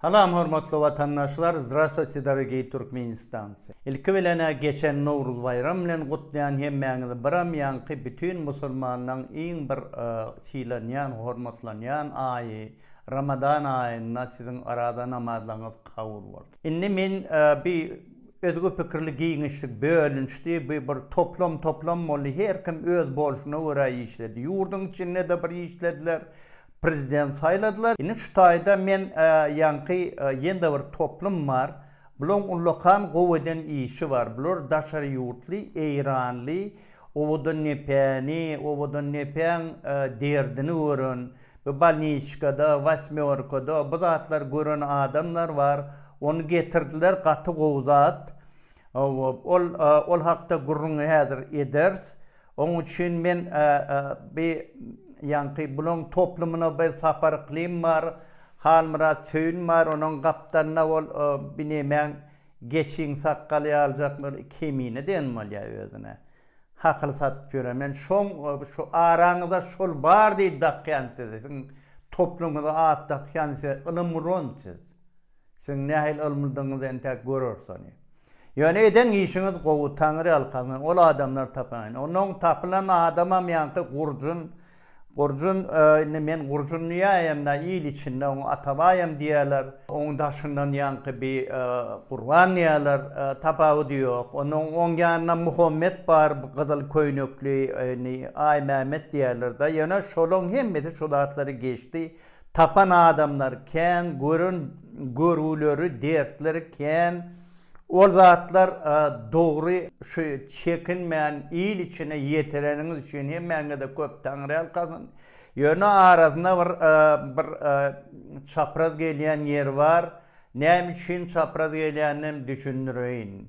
Salam hormatly watandaşlar Zdrastwuyte dorogiý Türkmenistancy! Ilki bilenä geçen Nowruz baýram bilen gutlaýan hemmäňizi biram ýaňky bütin musulmanlaň iň bir sylanýan hormatlanýan aýy Ramadan aýynda siziň arada namazlaňyz kabul bolsun. Indi men bi özge pikirli giňişlik bölünişdi bi bir toplam toplam boldy her kim öz bolşuna görä işledi ýurdyň içinde de bir işlediler Prezident saýladylar. Indi şu taýda men ýaňky ýene-de bir toplum bar. Bularyň ullakan gowy eden işi bar. Bular daşary ýurtly, eýranly, owadan nepäni, owadan nepäň derdini gören, bu bolniçkada, wasmýorkada bu zatlary gören adamlar bar. Ony getirdiler, gaty gowy zat. Ol hakda gürrüňi häzir ederis. Onuň üçin men bi ýaňky bulaň toplumyna bi Sapar Yklym bar, Halmyrat Söýün bar, onuň gapdalynda ol binemäň geçiň sakgaly ýaljak bir kemine diýen bolýar özüne. Hakyl satyp ýören. Men şoň şu araňyzda şol bar diýip dakýan siziň toplumyňyza at dakýan size ylymrun siz. Siziň nähili ylmydygyňyzy entäk göreris ony. Ýöne eden işiňiz gowy, Taňry ýalkasyn, ol adamlary tapyň. Onuň tapylan adamam ýaňky gurjun, gurjun, indi men gurjun diýäýemda, il içinde oňa Atabaýam diýerler. Oň daşyndan ýaňky bir Gurban diýerler, tapawudy ýok. Onuň oň ýanynda Muhammet bar, bir gyzyl köýnekli, indi Aýmämmet diýerler-de. Ýöne şolaň hemmesi şu zatlary geçdi. Tapan adamlar kän, gören görüwleri, dertleri kän. Ol zatlar dogry, şu çekinmän il içine ýetireniňiz üçin hemmäňize köp taňryýalkasyn. Ýöne arasynda bir bir çapraz gelýän ýeri bar. Näme üçin çapraz gelýäninem düşündireýin.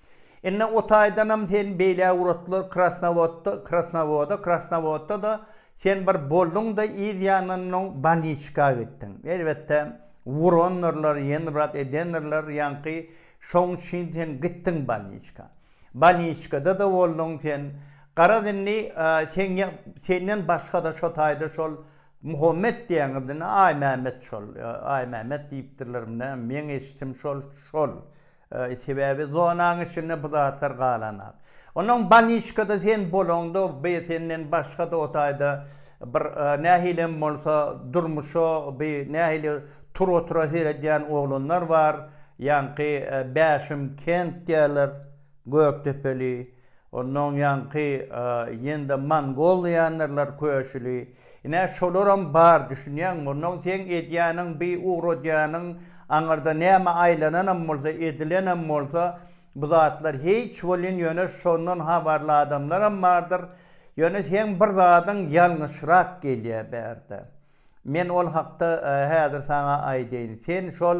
Indi o taýdanam sen beýle owratlar Krasnowodda, Krasnowoda, Krasnowodda-da sen bir bolduň-da yz ýanyndan bolniçka gitdiň. Elbetde, urandyrlar, ýenbrat edendirler ýaňky, şoň üçin sen gitdiň bolniçka. Bolniçkada-da bolduň sen. Garaz indi seň ýa, senden başga-da şo taýda şol Muhammet diýýäňiz indi, Aýmämmet şol, Aýmämmet diýipdirler, meň eşitim şol, şol. Sebäbi zonaň içinde bu zatlar galanak. Onuň baniçkada sen bolaňda bi senden başga-da o taýda bir nähilem bolsa durmuşa bi nähili tura-tura seredýän oglanlar bar. Ýaňky Bäşim kent diýýärler, Gökdepeli. Ondan ýaňky ýende mongol diýendirler köşüli. Ine şolaram bar düşünýäňmi? Ondan seň edýäniň bi ugradýanyň aňyrda näme aýlananam bolsa, edilenem bolsa bu zatlar hiç welin ýöne şondan habarly adamlaram bardyr. Ýöne seň bir zadyň ýalňyşrak gelýä bärde. Men ol hakda häzir saňa aýdaýyn. Sen şol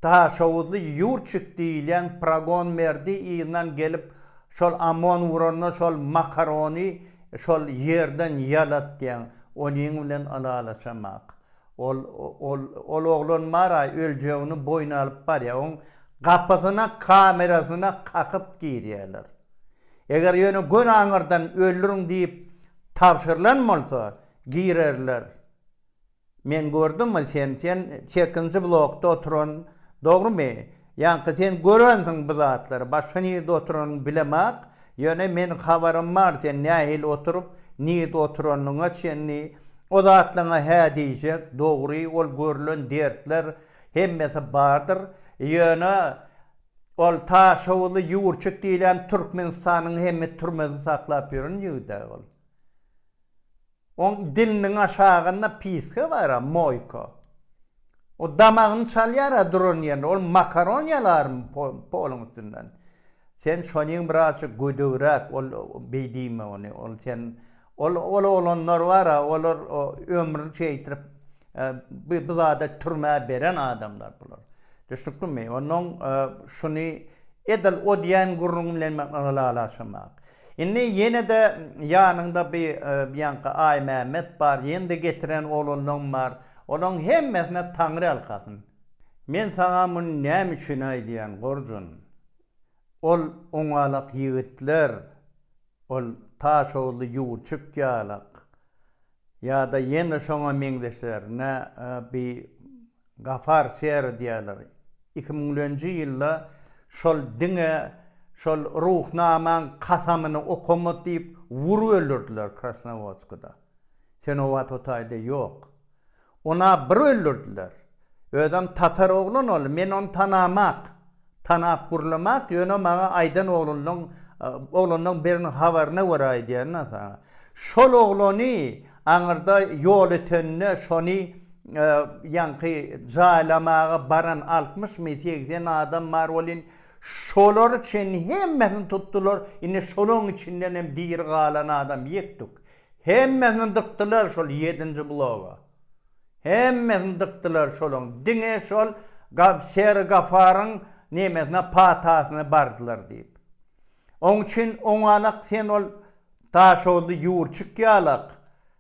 Daşoguzly Ýurçik diýilýän Pragon Merdi yzyndan gelip, şol Amon uranda şol makarony şol ýerden ýalatýan, onyň bilen ylalaşamak. Ol, ol, ol oglan bar-aý, öljegini boýun alyp barýar. Oň gapysyna kamerasyna kakyp girýärler. Eger ýöne göni aňyrdan öldüriň diýip tabşyrylan bolsa, girerler. Men gördümi sen sen çekinji blokda oturan dogrymy ýaňky sen görensiň bu zatlary başga nirde oturanyny bilemak ýöne men habarym bar sen nähili oturyp nirde oturanyňa çenli o zatlaňa hä diýjek dogry ol görlen dertler hemmesi bardyr ýöne ol taşowuzly ýurçik diýlen türkmenistanyň hemme türmesini saklap ýören ýigidä ol. Oň diliniň aşagynda piska bar-a, moýka. O damagyny çalýar-a duran ýerinde. Ol makaron ýalarmy poluň üstünden? Sen şonyň birazjyk gödegräk, ol beý diýme ony. Ol sen, ol, ol oglanlar bar-a, olar ömrüni şeýtirip, bi bu zada türmä beren adamlar bular. Düşnüklimi? Onnoň şuny edil o diýen gürrüň bilen men ylalaşamak. Indi ýene-de ýanyňda bi bianka Aýmämmet bar, ýene-de getiren oglanlaň bar. Olaň hemmesine Taňry ýalkasyn. Men saňa muny näme üçin aýdýan, Gorjun? Ol oňalak ýigitler, ol Taşoguzly Ýurçuk ýalak, ýa-da ýene şoňa meňzeşlerine bi Gafar Sera diýýärler. Iki müňlenji ýylda şol diňe şol Ruhnamaň kasamyny okama diýip wurup öldürdiler Krasnowodskada. Senowat o taýda ýok. Ony-a bir öldürdiler. Özem tatar oglan ol, men ony tanamak. Tanap gurlamak ýöne maňa aýdan oglanlaň oglanlaň biriniň habaryna görä aýdýan da saňa. Şol oglany aňyrda ýol ötende şony ýaňky jaýlamaga baran altmyş my segsen adam bar welin şolary çenli hemmesini tutdylar indi şolaň içindenem diri galan adam ýek tuk. Hemmesini dykdylar şol ýedinji bloga. Hemmesini dykdylar şolaň, diňe şol Şeri Gafaryň nemesine, patasyna bardylar diýip. Oň üçin oňalak sen ol Daşoguzly Ýurçuk ýalak,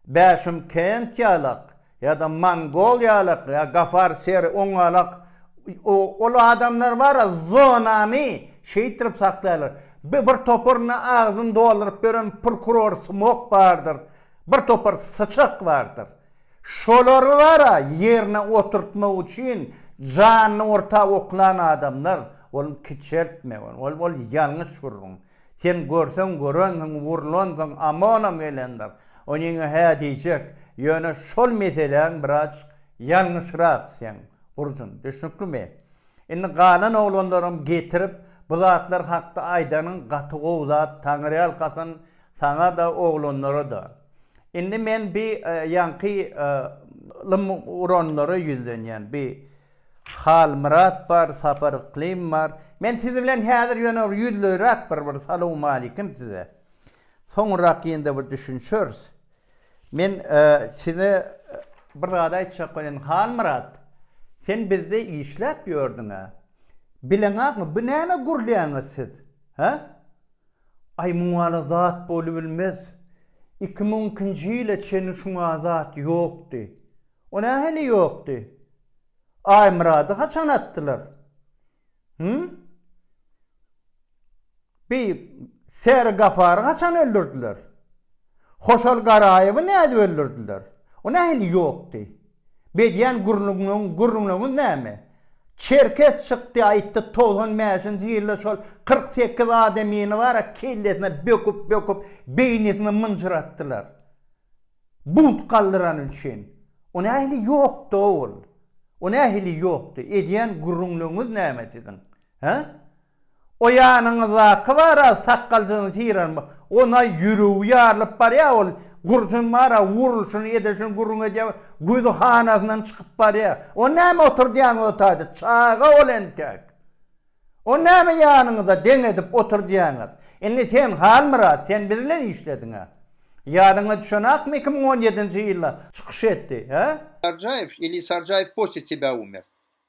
Bäşymkent ýalak ýa-da Mongol ýalak ýa Gafar Şeri oňalak ol adamlar bar-a zonany şeýtirip saklaýarlar. Bir toparyna agzyny dolduryp beren prokuror smok bardyr, bir topar syçak bardyr. Şolary bara ýerine oturtmak üçin janyny orta oklan adamlar, ol kiçeltme ol, ol ol ýalňyş gürrüň. Sen görseň görensiň wurlansyň amonam gelendir. Onyňa hä diýjek, ýöne şol meseläň biraz ýalňyşrak seň gurjun, düşnüklimi? Indi galan oglanlaram getirip bu zatlar hakda aýdanyň gaty gowy zat, Taňyrýalkasyn saňa-da, oglanlara-da. Indi men bi ýaňky ylym uranlara ýüzlenýän. Bi Halmyrat bar, Sapar Yklym bar. Men siz bilen häzir ýöne bir ýüzleýräk bir bir salowmalikim size. Soňurrak ýene-de bir düşünişeris. Men size bir zat aýtjak welin, Halmyrat, sen bizde işläp ýördüň-ä. Bileňakmy, bu näme gürlýäňiz siz? Hä? Aý muňala zat bolubilmez. Iki müň ikinji ýyla çenli şuňa zat ýokdy. O nähili ýokdy? Aýmyrady haçan atdylar? Hü? Beý, Säri Gafary haçan öldürdiler? Hoşal Garaýewi nädip öldürdiler? O nähili ýokdy? Bedýän gürrüňiňiz näme? Çerkes çykdy aýtdy togsan bäşinji ýylda şol kyrk sekiz adamyny bara kellesine böküp böküp beýnisini mynjyratdylar. Bunt galdyrany üçin. O nähili ýokdy ol? O nähili ýokdy? Edýän gürrüňleriňiz näme siziň? Hä? O ýanyňyzdaky bar-a, sakgaljygyny syran, ona ýüregi ýarylyp barýar ol, gurşun bar-a, urulşyny, edilşini gürrüň edýär, güzi hanasyndan çykyp barýar. O näme oturdýaňyz o taýda, çaga ol entek. O näme ýanyňyza deň edip oturdýaňyz. Indi sen, Halmyrat, sen biz bilen işlediň-ä. Ýadyňa düşenakmy iki müň on ýedinji ýylda çykyş etdi, hä? Sarjaýew ili Sarjaýew Kostýa tebä umer.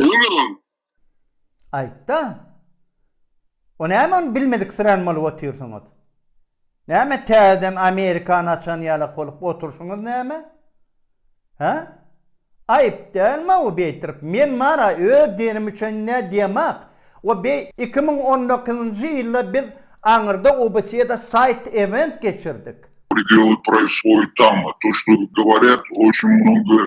Öňürüm. Aýtda. O näme ony bilmediksirän bolup otyrsyňyz? Näme täzeden Amerikany açan ýalak bolup oturşyňyz näme? Hä? Aýyp dälmä o beýtirip? Men Mara öz dinim üçin nä diýemok. O beý iki müň on dokuzynjy ýylda biz aňyrda obasýada saýt event geçirdik. Predeloy proiswoýt tama, to, što, говорят, o, şum, mnogo,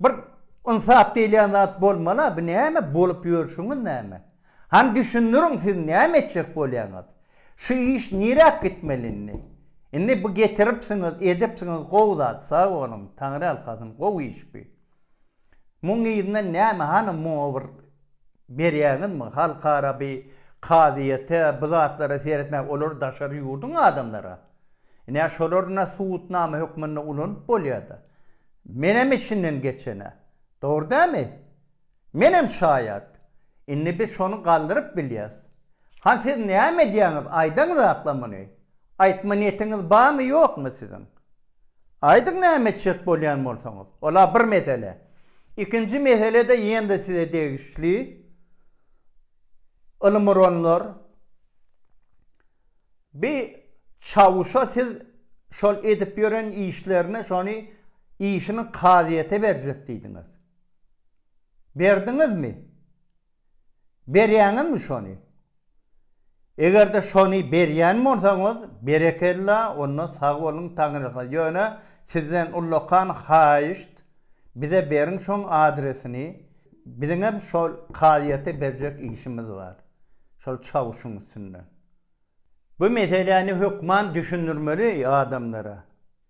Bir ynsap diýilýän zat bolmala, bu näme bolup ýörşüňiz näme? Hany düşündiriň siz näme etjek bolýaňyz? Şu iş niräk gitmeli indi? Indi bu getiripsiňiz, edipsiňiz gowy zat, sag boluň, Taňryýalkasyn, gowy iş bi. Muň yzyndan näme, hany muňa bir berýäňizmi halkara bi kazyýete bu zatlara seretmäge olar daşary ýurduň adamlara ine şolar na subutnama hökmünde ulanyp bolýada menem içinden geçene dogry dämi menem şaýat indi biz şony galdyryp bilýäs han siz näme edýäňiz aýdaňyz akla muny aýtma niýetiňiz barmy ýokmy siziň. Aýdyň näme etjek bolýan bolsaňyz. Ola bir mesele. Ikinji mesele-de ýene-de size degişli. Ylymyronlar bi çawuşa siz şol edip ýören işlerini şony işini kazyýete berjek diýdiňiz. Berdiňizmi? Berýäňizmi şony? Eger-de şony berýän bolsaňyz, berekella, onda sag boluň taňryha, ýöne sizden ullakan haýyşt, bize beriň şoň adresini, biziňem şol kazyýete berjek işimiz bar, şol çawuşyň üstünden. Bu meseläni hökman düşündirmeli adamlara.